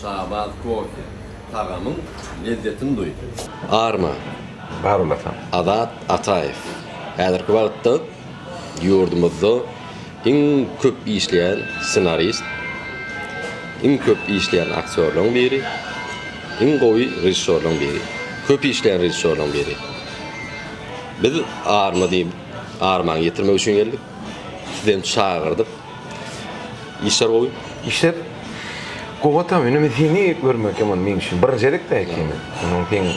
Şabaz kofe tagamyň lezzetini duý. Arma. Bar olasan. Azat Ataýew häzirki wagtda ýurdumyzda iň köp işleýän ssenarist, iň köp işleýän aktýorlaryň biri, iň gowy režissýorlaryň biri, köp işleýän režissýorlaryň biri. Biz Arma diýip, Armany getirmek üçin geldik. Sizi hem çagyrdyk. Işler gowy. Işler gowata indi men seni görmek ýaman men üçin birinjelik de ekeni. Onuň seň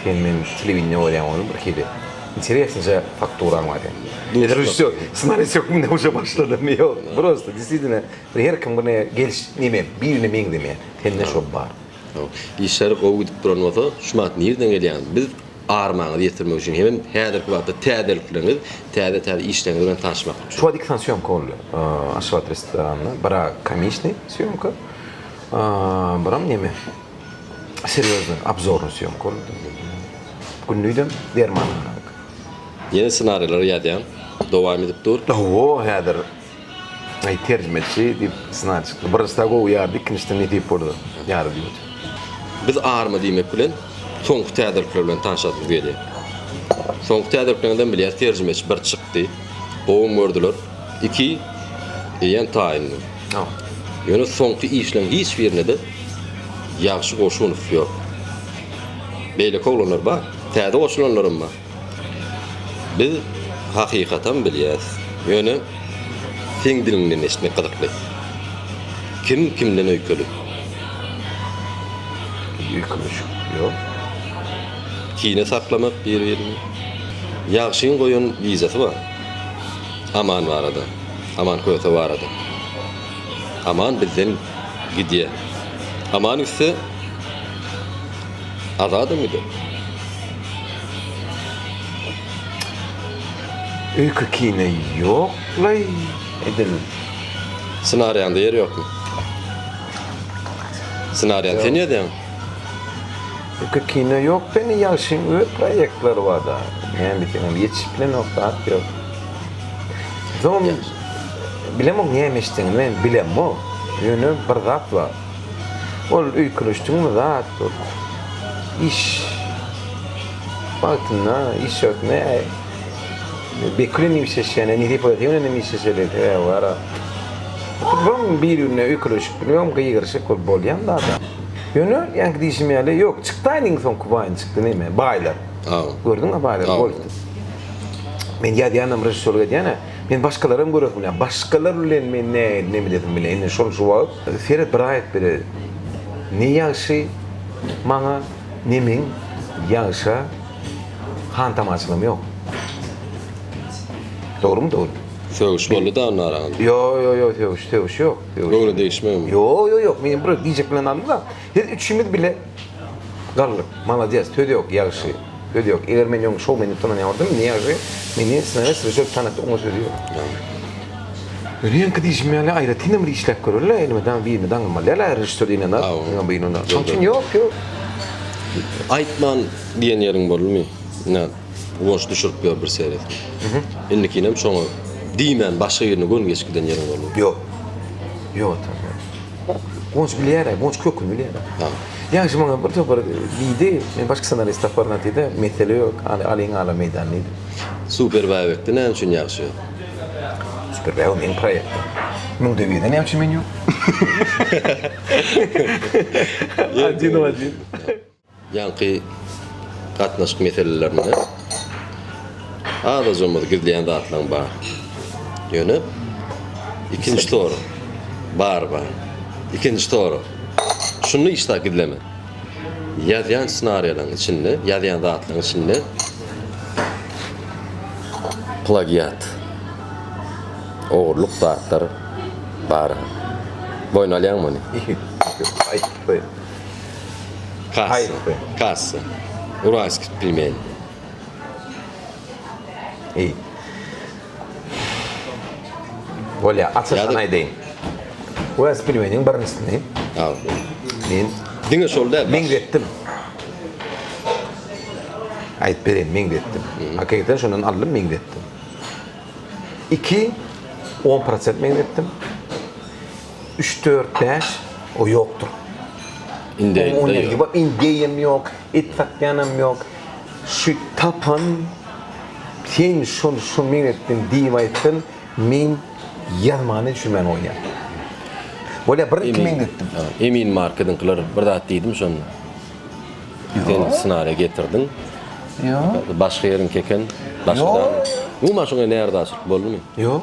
sen men telewideniýe görýän ony bir hili interesnyja fakturaň bar ýa. Ýa režissýor ssenarist hökmünde uje başladymy ýok. Prosta desizine bir her kim bir ne geliş neme birine meňzemeýär. Sende şo bar. Işler gowy gidip duran bolsa şu mahat nirden gelýäňiz? Biz Armaňyzy ýetirmek üçin hemem häzirki wagtda täzelikleriňiz, täze-täze işleriňiz bilen tanyşmak üçin. Şuwagt iki sany sýomka boldy. Aşgabat restoranyna bira komisniý sýomka, biram neme, serýoznyý, obzornyý sýomka boldy. Günlidem dermanhana. Ýene ssenarileri ýazýan, dowam edip dur. Hawa, häzir. Aý terjimeçi diýip sna çykdy. Birinjisde gowy ýardy, ikinjisde nesip bolsa ýardy diýmedi. Biz arma diýmek bilen soňky täzelikler bilen tanşasymyz gelýär. Soňky täzeliklerden bilýäs terjimeçi bir çykdy. Gowym gördüler. Iki eýýäm taýyndy. Ýöne soňky işleriň hiç birinde-de Ýagşy Goşunow ýok. Beýleki oglanlar bar. Täze goşulanlaram bar. Biz hakykatam bilýäs, ýöne seň diliňden eşitmek gyzykly. Kim kimden öýkeli? Biz öýkeleşik ýok. Kine saklamak biri-birini. Ýagşyň goýan wizasy bar. Aman barada. Aman köse barada. Aman bizden gidýär. Aman gitse. Azadam gider. Öýke kine ýoklaý edil. Ssenariýaňda ýer ýokmy? Ssenariýany sen ýazýaň. Öýke kine ýok beni ýagşyň öz proýektleri barda. Näme diýseňem ýetişip bilenok zat ýok. Bilemok näme eşitseňem men bilemok. Ýöne bir zat bar. Ol öýkeleşdigiňiz zat dur. Iş wagtynda iş ýagtynda bekilenip işleşýän, indi hipotekenem işleşeli wara. Bum birine öýkeleşip bilmem gygyryşyk bolup bolýan zada. Ýöne ýaňky diýşim ýaly ýok çykdaýyn iň soňky baýyny çykdy neme baýlar. Gördüňmi baýlar goýupdy. Men ýazýanam režissýorlyk edýän-ä. Men başgalaram göresim bilen. Başgalar bilen men nähili neme edesim bilen. Indi şol şu wagt Seret bir aýat bile ne ýagşy maňa ne meň ýagşa hantamaçylygym ýok. Dogrumy dogry. Sögüş boldy da onda araňyzda. Ýo ýo ýo sögüş sögüş ýok. Göwne degişmegmi. Ýo ýo ýok men bir diýjek bilen aldy da siz üçüňiz bile. Galdyk. Malades. Söz ýok. Ýagşy. Söz ýok. Eger men ýoň şowmeni tananýardym, indi ýagşy meni sngs we şol tanatdy oňa söz ýok. Öňki diýşim ýaly aýratynam bir işläp göreli elmydama birini daňylmaly däl aýry režissýor diýlende ýa birini ol şoň üçin ýok ýok. Aýtman diýen ýeriň boldumy? Ine goş düşürip ýör bir seret. Indikinem şoňa diýmän başga birine göni geçip giden ýeriň boldumy? Ýok. Ýok atam ýok. Gonç bilýär-ä, Gonç köküni bilýär-ä. Hä. Ýaňy şu maňa bir topar diýdi, men başga ssenarist taparyn atdy-da, mesele ýok, al, alyň ala meýdan diýdi. Super Bäbekde näme üçin ýagşy ýok? Super Bäbek meniň proýektim. Müňde birde näme üçin men ýok? Ýerden. Ajinowa diýdi. Ýaňky gatnaşyk meselelerinde az-azymyz gizleýän zatlaryň bar. Ýöne ikinji sorag bar bar. Ikinji sorag şuny işda gizleme. Ýazýan ssenariýalaryň içinde, ýazýan zatlaryň içinde plagiat, ogurlyk zatlar bar. Boýun alýaňmy ony? Kassa. Haýsy? Kassa. Uralskiý pilmeni. Eý. Bolýa, açyşdan Ýa-da- aýdaýyn. Wes pilmeniň birincisi. Al. Men Diňe şol däl. baş- meňzetdim. Aýdyp bereýin, meňzetdim. Hakykatdan şondan aldym, meňzetdim. 2 10% meňzetdim. üç dört bäş o ýokdur. Indi ýok. Indeýem ýok, et satýanam ýok. Şu tapan sen şol şu men etdim diýip aýtsyn, men ýazmany düşünmän goýýan. Bolýa bir iki men etdim. Emin markediňkiler bir zat diýdim şonda. Sen ssenariýa getirdiň. Ýok. Başga ýeriňki eken. Ýok. Umuman şoňa närazyçylyk boldumy? Ýok.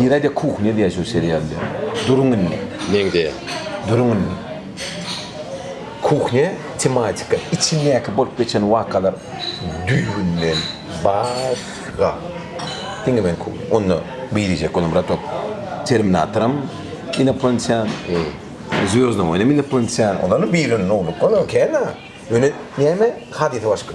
Nirede kuhnya diýýär şu serialda. Duruň indi. Meňzeýär. Duruň indi. Kuhnya tematika, içindäki bolup geçen wakalar düýbünden başga. Diňe men kuhnya. Onda biricek olam Ratok. Terminatoram inoplantýan. Zwezdnoý oýnam inoplantýan. Olardan biriniň ogly. Olam kän-a. Ýöne näme, hadysa başga.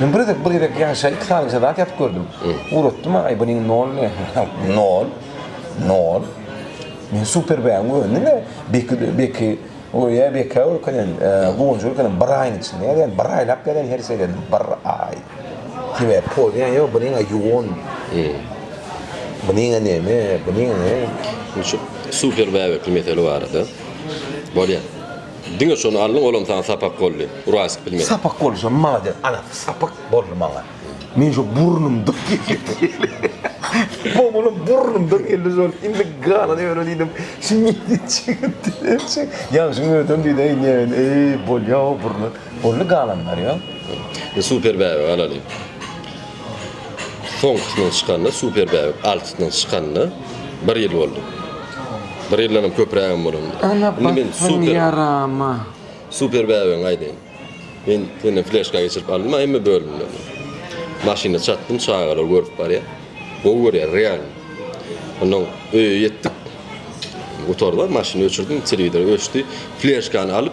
Men bir gezek, bir gezek ýaşa iki salymça zat ýatyp gördüm. Uratdym, aý bu neň nol ne? Nol. Nol. Men super bäň göndüm de, beki, beki, o ýa beki o könen, guwanjy o könen bir aýyň içinde, ýa bir aýlap gelen her şeyden bir aý. Sebä poýýan ýok, bu neň ýuwan. Bu neň neme, bu neň ne? Şu super bäbekli mesele barada bolýar. Diňe şony aldyň olam saňa sapak boldy. Uraýyşyp bilmedi. Sapak boldy şo malades ana sapak boldy maňa. Men şo burnumdan Bom olam burnumdan geldi şol indi galan öwre diýdim. Şu nirden çykyp diýemçi. Ýagşyň özem diýdi eý näme eý bolýa o burna. Boldy galan barýa. Super bäbe galaly. soňkusynyň çykanyna super bäbek altysynyň çykanyna bir ýyl boldy. Bir ýyldanam köprägem bolandyr. Ene batsyn ýarama. Super bäbegiňi aýdaýyn. Men senden fleşka geçirip aldym hemme bölümlerini. Maşynda çatdym çagalar görüp barýar. Gowy görýär realny. Onnoň öýe ýetdik. Gutardylar maşyny öçürdim telewizor öçdi. Fleşkany alyp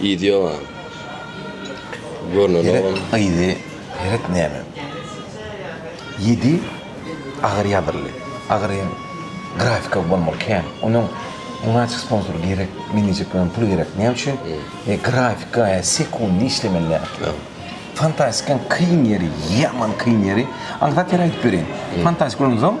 Yzy ýok a. Görnenogam. Gerek yzy gerek näme. Ýedi agyr ýazyldy. Agyr hem grafika bolmaly kän. Onuň munasyp sponsor gerek. Menejek bolan pul gerek. Näme üçin? E grafika e sekundy işlemeli däl. Fantastikanyň kyn ýeri, ýaman kyn ýeri. Aňsat ýeri aýdyp bereýin. Fantastik bolansoň.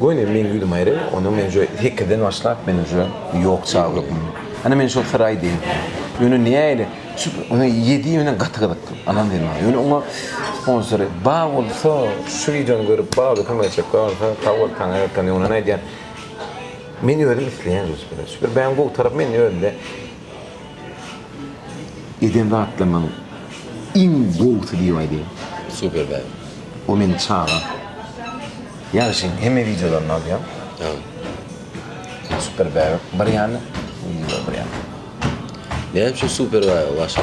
Goý indi meň ýüzüm aýry, onda men uje sekizden başlap men uje ýok çag hökmünde. Ana men şol syry aýdaýyn. Ýöne nähili şu ine ýedi bilen gaty gyzykly. Anam diýdi maňa. Ýöne oňa on syry bar bolsa şu wideony görüp baby kömek etjek bolsa sag bol taňa ýatan ýöne aýdýan. Men özüm isleýän uje. Şu bir bäň gowy tarapy men özümde Eden zatlarymyň iň gowusy diýip aýdaýyn. Super bäh. O meniň çagam. Ýagşyň hemme wideolaryny alýan. Aw. Super bäh. Bir ýany, wideolar bir ýany. Näme üçin super bäh başga?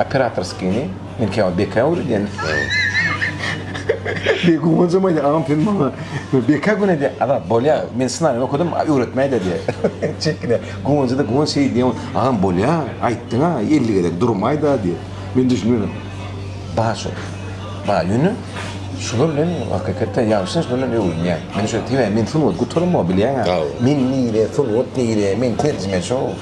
Operatorskini men käwagt beka öwredýän. Diýýär, Guwanjam aýdýar, Agam sen maňa beka gün edýäň. Agam, bolýar, men ssenariýany okadym, öwretmäýdä diýýär. Çekinýär. Guwanjada Guwanç şeýdi diýýär, Agam, bolýar, aýtdyň-a, elli gezek durmaý-da diýýär. Men düşünmedim. Bar şol. Bar, ýöne şular bilen hakykatdan ýalňyşýan, şular bilen öwrenýän. Men şeýdip, Tebä men sungat gutaram-ow, bilýäň-ä. Men nire, sungat nire, men terjimeçi-ow.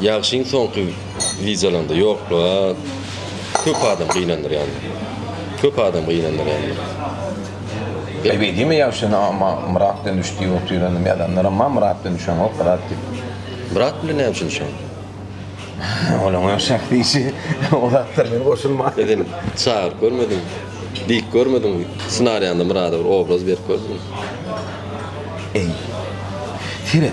Ýagşyň soňky wideolarynda ýokluga köp adam gynandyrýandyr. Köp adam gynandyrýandyr. Ýeri geldiňmi Ýagşyny amma Myrat bilen düş diýip otyrandyr ýazanlaram bar Myrat bilen düşeňok Myrat diýip. Myrat bilen näme üçin düşeňok? Olaň öz şahsy işi o zatlara men goşulman. Sen indi çagyryp görmediňmi? Diýip görmediňmi? Ssenariýaňda Myrada bir obraz berip gördüňmi? Eý. Seret.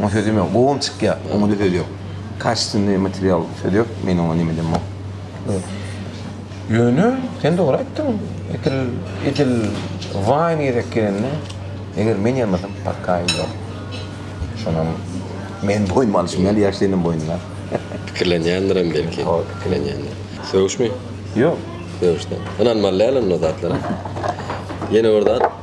Oňa sözüm ýok. Gowam çykýar. Oňa-da söz ýok. Kaşitynly material söz ýok. Men oňa neme diýemok. Ýöne sen dogry aýtdyň. Edil, edil Wine gezek gelende eger men ýazmasam parkaýym ýok. Şonam men boýnuma alyşym ýaly ýaş seniň boýnuňa. Pikirlenýändirin belki. Hol pikirlenýändir. Sögüşmi? Ýok. Sögüşden. Ynanmaly däl onda zatlara. Ýene bir zat.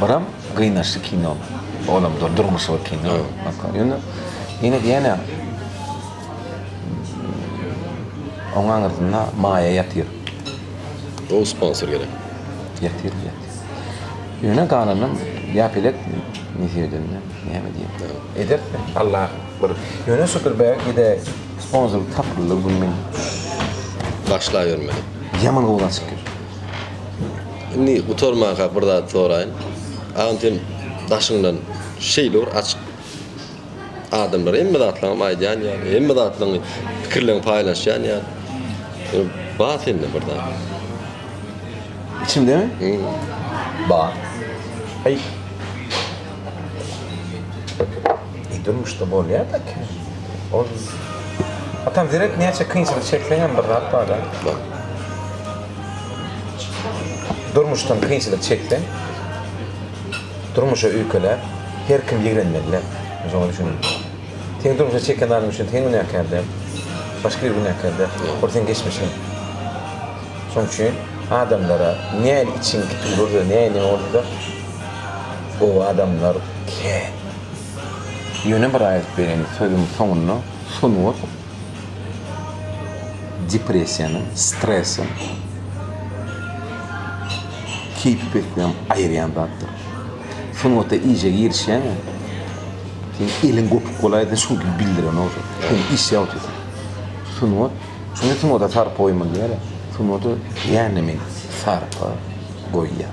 Buram gynaçly kino. Olam dur, durmuşy bir kino. Ýöne ýene diýýän-ä. Oň aňyrsynda maýa ýatyr. Gowy sponsor gerek. Ýatyr, ýatyr. Ýöne galanam ýapelek nesiýedende näme diýýän. Ederis de. Allah bir ýöne şükür belki-de sponsor tapyldy bu men. Başlaýbermeli. Ýaman gowulançyk. Indi gutarmanka bir zat soraýyn. Agam sen daşyňdan şeýle bir açyk adamlar hemme zatlaryňy aýdýan ýa hemme zatlaryňy pikirlerini paýlaşýan ýa ba sende bir zat. Içimdemi? Hmm. Ba. Hey. Biz durmuşda bolýar daki ol biz Atam zerek näçe kynçylyk çekseňem bir zat barda durmuşdan kynçylyk çekseň durmuşa öýkeläp her kim ýigrenmeliler men şoňa düşündim seň durmuşa çeken zadyň üçin sen günäkär däl başga biri günäkär däl ol seň geçmişiň şoň üçin adamlara näme içiň kipin bolsa näme bolsa gowy adamlar kän. Ýöne bir aýdyp bereýin, sözüň soňunda sungat depressiýanyň, stresiň keýpi peslem aýyrýan zatdyr. Sungata iýjä girişýäňä, seň eliň gopuk bolaýda çünki bildirenogsyň, sen iş ýabtysyň. Sungat, şoňa sungata sarpa goýmaly diýýärler. Sungata ýa-da men sarpa goýýan.